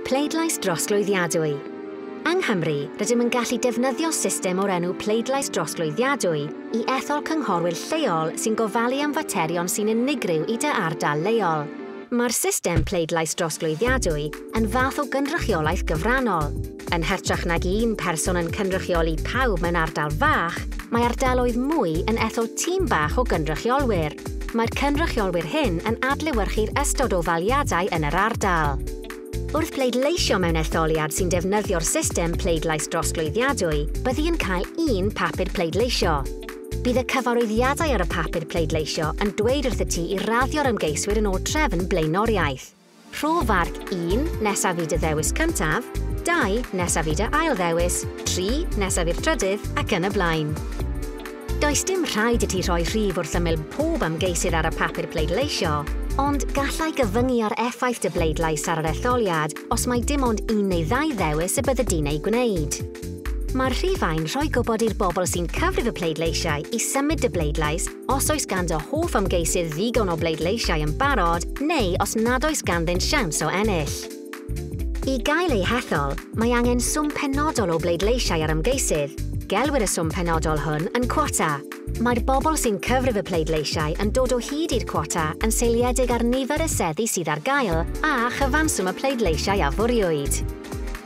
Pleidlais drosglwyddiadwy. Yng Nghymru, rydym yn gallu defnyddio system o'r enw pleidlais drosglwyddiadwy i ethol cynghorwyr lleol sy'n gofalu am faterion sy'n unigryw i dy ardal leol. Mae'r system pleidlais drosglwyddiadwy yn fath o gynrychiolaeth gyfrannol, Yn hytrach nag un person yn cynrychioli pawb mewn ardal fach, mae ardaloedd mwy yn ethol tîm bach o gynrychiolwyr. Mae'r cynrychiolwyr hyn yn adlewyrchu'r ystod o ddaliadau yn yr ardal. Wrth bleidleisio mewn etholiad sy'n defnyddio'r system pleidlais drosglwyddiadwy, byddi yn cael un papur pleidleisio. Bydd y cyfarwyddiadau ar y papur pleidleisio yn dweud wrth y ti i raddio'r ymgeiswyr yn ôl trefn blaenoriaeth. Rho farc 1, nesaf i dy ddewis cyntaf, 2, nesaf i dy ail ddewis, 3, nesaf i'r trydydd, ac yn y blaen. Does dim rhaid i ti rhoi rhif wrth ymyl pob ymgeisydd ar y papur pleidleisio, ond gallai gyfyngu ar effaith dy bleidlais ar yr etholiad os mai dim ond un neu ddau ddewis y byddi di'n eu gwneud. Mae'r rhifau'n rhoi gwybod i'r bobl sy'n cyfrif y pleidleisiau i symud dy bleidlais os oes gan dy hoff ymgeisydd ddigon o bleidleisiau yn barod neu os nad oes ganddynt siawns o ennill. I gael eu hethol, mae angen swm penodol o bleidleisiau ar ymgeisydd. Gelwir y swm penodol hwn yn cwota. Mae'r bobl sy'n cyfrif y pleidleisiau yn dod o hyd i'r cwota yn seiliedig ar nifer y seddi sydd ar gael a chyfanswm y pleidleisiau a fwriwyd.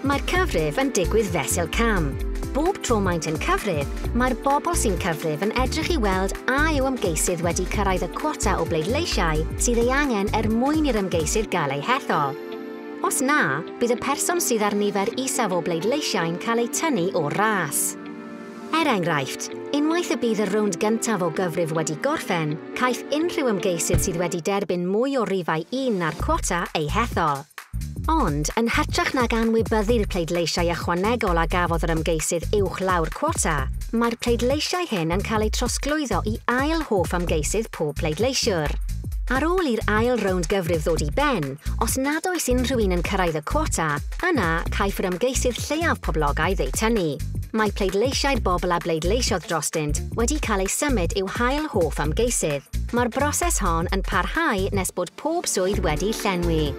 Mae'r cyfrif yn digwydd fesul cam. Bob tro maent yn cyfrif, mae'r bobl sy'n cyfrif yn edrych i weld a yw ymgeisydd wedi cyrraedd y cwota o bleidleisiau sydd ei angen er mwyn i'r ymgeisydd gael ei hethol. Os na, bydd y person sydd â'r nifer isaf o bleidleisiau'n cael eu tynnu o'r ras. Er enghraifft, unwaith y bydd y rownd gyntaf o gyfrif wedi gorffen, caiff unrhyw ymgeisydd sydd wedi derbyn mwy o rifau un na'r cwota eu hethol. Ond, yn hytrach nag anwybyddu'r pleidleisiau ychwanegol a gafodd yr ymgeisydd uwch law'r cwota, mae'r pleidleisiau hyn yn cael eu trosglwyddo i ail hoff ymgeisydd pob pleidleisiwr. Ar ôl i'r ail rownd gyfrif ddod i ben, os nad oes unrhyw un yn cyrraedd y cwota, Yna, caiff yr ymgeisydd lleiaf poblogaidd eu tynnu. Mae pleidleisiau'r bobl a bleidleisiodd drostynt wedi cael eu symud i'w hail hoff ymgeisydd. Mae'r broses hon yn parhau nes bod pob swydd wedi llenwi.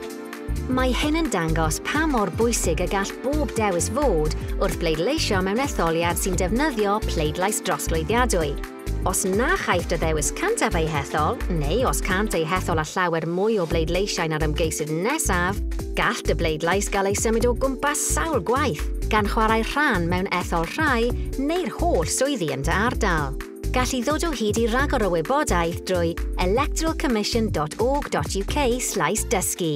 Mae hyn yn dangos pa mor bwysig y gall bob dewis fod wrth bleidleisio mewn etholiad sy'n defnyddio pleidlais drosglwyddiadwy. Os na chaiff dy ddewis cyntaf ei hethol, neu os cânt eu hethol â llawer mwy o bleidleisiau na'r ymgeisydd nesaf, gall dy bleidlais gael ei symud o gwmpas sawl gwaith, gan chwarae rhan mewn ethol rhai neu'r holl swyddi yn dy ardal. Gall i ddod o hyd i ragor o wybodaeth drwy electoralcommission.org.uk/dysgu.